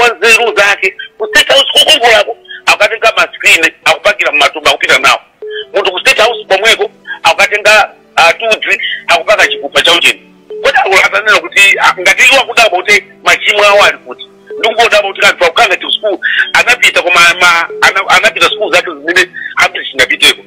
wa nzeru zake ku state house kokongolako akukatenga maskrini akupakira mmatumba akupita nawo munthu ku state house komweko akukatenga tudzi akupaka chikupa cha ujeni kodi akulu atanena kuti ah, ngati iwo akudabwa kuti machimo awo ali kuti ndikungodabwa kuti anthu akukhala ngati kusukulu anapita koma ma- ana- anapita sukulu zake zimene ambiri sitinapiteko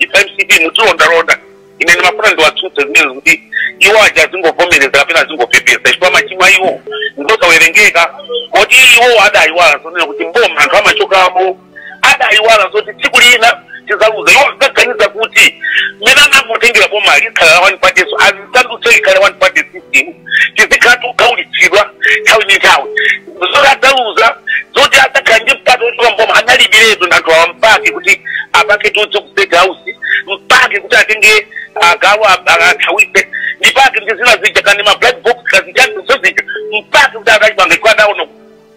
mcp mutilondalonda ine ndimafuna ndiwatsutse zimenezo kuti iwo aja azingovomereza kapena azingopepesa chifukwa machimo a iwo ngosawerengeka kuti iwo adayiwala zonena kuti mboma anthu amachokamo adayiwala zoti tsiku lina tizaluza iwo ankaganiza kuti mmene anangotengera boma likhala la one party so azisandutse likhale one party system tizikhala tikukhaulitsidwa nthawi ndi nthawi zoti adzaluza zoti adzakhala ndi mpata wochoka mboma analibiretu anthu awa mpake kuti apake tudzi ku state house mpake kuti atenge agalu athawise ndipake ndi zina zija kaya ndi ma black box kazijani zozija mpake kuti akalipange kwa adaona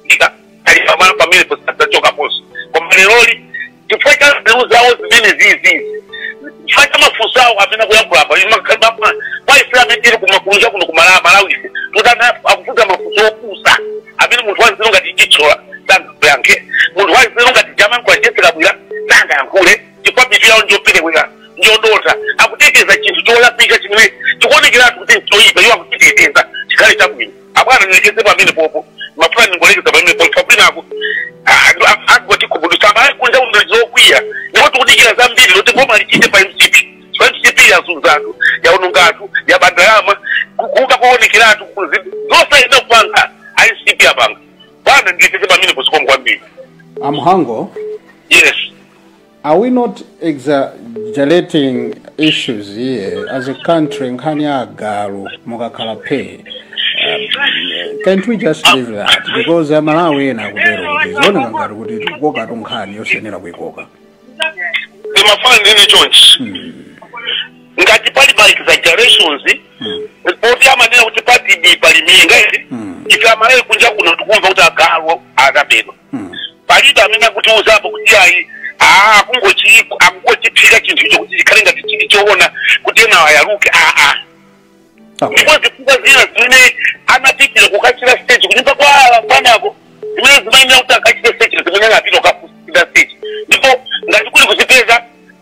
kuika ali pamene pamene posadzachokaponso koma leroli chifukwa cha nzeru zawo zimene zizizi chifukwa cha mafunso awo amene akuyankhula apa inu mukhala mafuna kwa ife amene tili kumakunja kuno kumala- malawi ife tutana akufunsa mafunso opusa amene munthu wanzeru ngati chitsola sangayankhe munthu wanzeru ngati Namankhumba Jessie Kabwila sangayankhule chifukwa mitu yawo njopelewera njodontha akuteteza chinthu cholakwika chimene chikuonekeratu kuti nchoyipa iwo akuchiteteza chikhale chabwino abwana nilekeze pamenepopo mafuna ningolekeza pamenepopo kabinako anthu akutikhumudwitsa amalawi kunja kuno ndiokwiya ndipo tikudikira zambiri zoti boma lichite pa mcp pa mcp yazunza anthu yaononga anthu yaba ndalama ku- kuba koonekeratu kuzi- zonse ena akupanga mcp apanga bwana nilekeze pamenepo zikomo kwambiri amhango yes Are we not exaggerating issues here as a country nkhani ya agalu mukakhala pay um, can't we just leave that because amalawi ena akutero kuti zikuoneka ngati kuti tikukokatu nkhani yosayenera kuikoka ndimafuna ndinene chonchi ngati pali ma exaggerations poti amanena kuti patsepa pali minga ifeyo ife amalawi kunja kuno tikumva kuti agalu anabedwa palibe amene akutiuzapo kuti ayi aa akungochi- akungochipeka chinthucho kuti chikhale ngati chili choona kuti ena ayaluke ayi Okay. ndipo zifukwa zina zimene anapitira kukachita search kunyumba kwa bwanako zimene zimayenera kuti akachite search zimene anapita kukachita search ndipo ngati kuli kuzipeza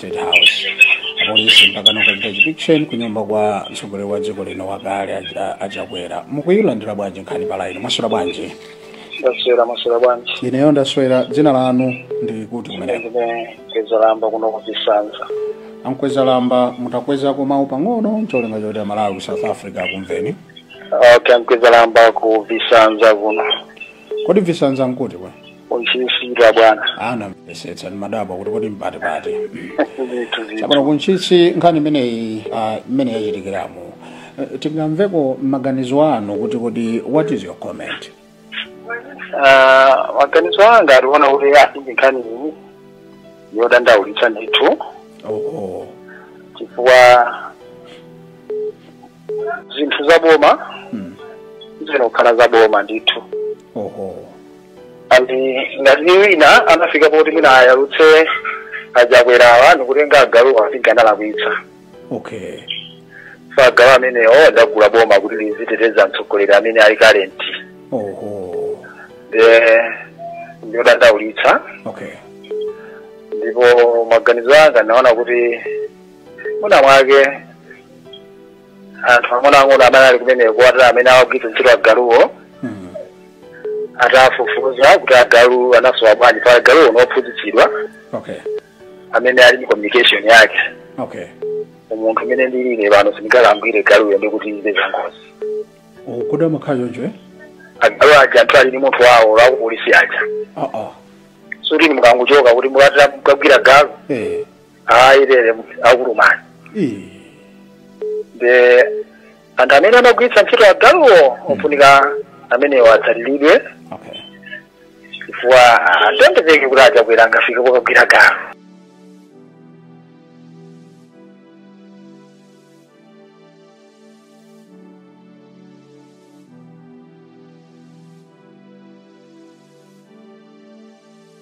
State House. Apolisi mpaka nokachita chipikisheni ku nyumba kwa mtsogoleri wa dziko lino wakale a- a- a Chakwera. Mukuyilandira bwanji nkhani pa laini? Mwaswera bwanji? ndaswera maswera bwanji Ineyo ndaswera dzina lanu ndi kuti kumeneko ndine Kwezalamba kuno ku Visanza a Nkwezalamba mutakwezako mawu pang'ono ncholinga choti amalawi ku South Africa akumveni okay Nkwezalamba ku Visanza kuno kodi visanza nkuti bwana Ku Ntchisi bwana. ndimafunsitsa ndimadabwa kuti kodi mpati pati Zinthu zinthu. chapano ku Ntchisi nkhani imeneyi ah, imene yachitikirayo Eh, tingamveko maganizo anu kuti kodi what is your comment Ah, maganizo anga ndiona kuti ah, ndi nkhani iyi yodandaulitsa ndithu oh, oh. chifukwa zinthu za boma Mm. zimakhala za boma ndithu Oh, oh. and ngati wina anafika poti mwina awayalutse a Chakwerawa nikutenga agaluwa analakwitsa okay chifukwa agalu amenewo adagula boma kuti liziteteza mtsogoleri amene ali current oho eh, ndiyodandaulitsa okay ndipo maganizo anga ndaona kuti muna mwake anthu ang'onoang'ono amene ali kumeneko amene amagwiritsa ntchito agaluwo Mm. atafufuza kuti agalu anasowa bwanji chifukwa agaluwo ndi ophunzitsidwa Okay. amene ali ndi communication yake Okay. munthu amene ndilile pano sindingakamgwire galuyo ndi kuti ize zangozi Kodi amakhala choncho eh? agalu aja anthu ali ndi munthu wawo a kupolisi aja Ah ah. zoti inu mukangochoka kuti mukatira mukagwira galu Eh. ayi akulumani Eh, ndi anthu amene amagwiritsa ntchito agaluwo ofunika amenewo atsatidwe okay chifukwa sizingatheke kuti a Chakwera angafike kokagwira galu